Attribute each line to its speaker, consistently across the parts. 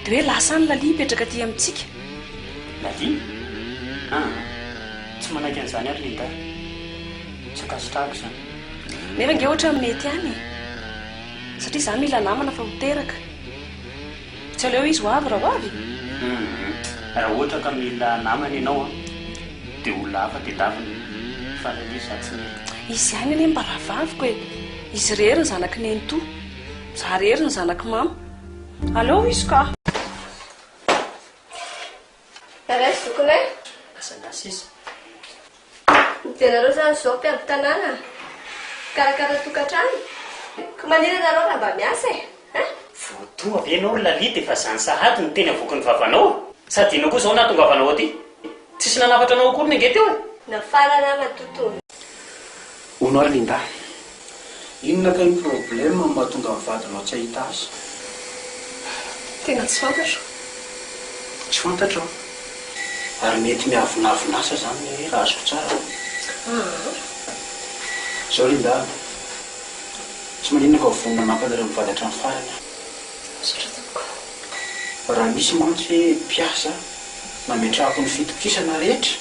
Speaker 1: Dia hoe lasa any Lalia hipetraka aty amintsika. Lalia?
Speaker 2: Ah, tsy manaiky an'izany ary Linda. Tsy ankasitrahako izany. Nefa ange
Speaker 1: ohatra amin'ny mety any e. Satria izaho mila namana fa ho teraka. Tsy aleo izy ho avy raha ho avy? Hum,
Speaker 2: raha ohatra ka mila namana ianao an, dia olona hafa tedavina. Fa Lalia izaho tsy mila. Izy ihany anie mba
Speaker 1: rahavaviko e. Izy irery ny zanaky nenitoa. Izaho irery ny zanaky mama. Aleo izy ka.
Speaker 3: Tara izy zokiny e. Aza nasesa.
Speaker 2: Ianareo
Speaker 3: zany zao mpiady tanàna, mpikarakara tokantrano, ka manina ianareo raha mba miasa e, hein? Voadoha
Speaker 2: ve ianao ry Lalita efa zany sahady no teny avoakin'ny vavanao? Sady inona koa izao nahatonga avanao aty? Tsisy nanafatra anao akory ny ange teo e! Nafara
Speaker 3: ramatoa
Speaker 4: Tony. Hono ary Lindahy. Inona kay ny problème no mahatonga ny vadinao tsy hahita azy?
Speaker 1: Tena tsy fantatro.
Speaker 4: Tsy fantatro an! Ary mety miavonavon'asa izany ny ahy raha azoko tsara an! Izao Lindahy an! Tsy maninona fa vonona mampanareo mivady hatramin'ny farany aho. Misaotra
Speaker 1: tompoko. Raha
Speaker 4: misy mantsy mpiasa nametrahako ny fitokisana rehetra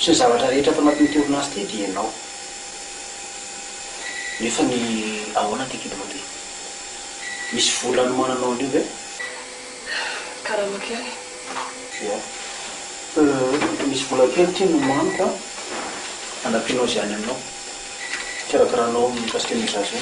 Speaker 4: sy ny zavatra rehetra ato anatin'ity orinasa ity dia ianao. Nefa ny ahoana ity kidonao ity? Misy vola anomananao an'io ve?
Speaker 1: Karama kely. Ia.
Speaker 4: Misy vola kely ity nomaniko an, anampianao izay any aminao. Kirakiranao ny customisation.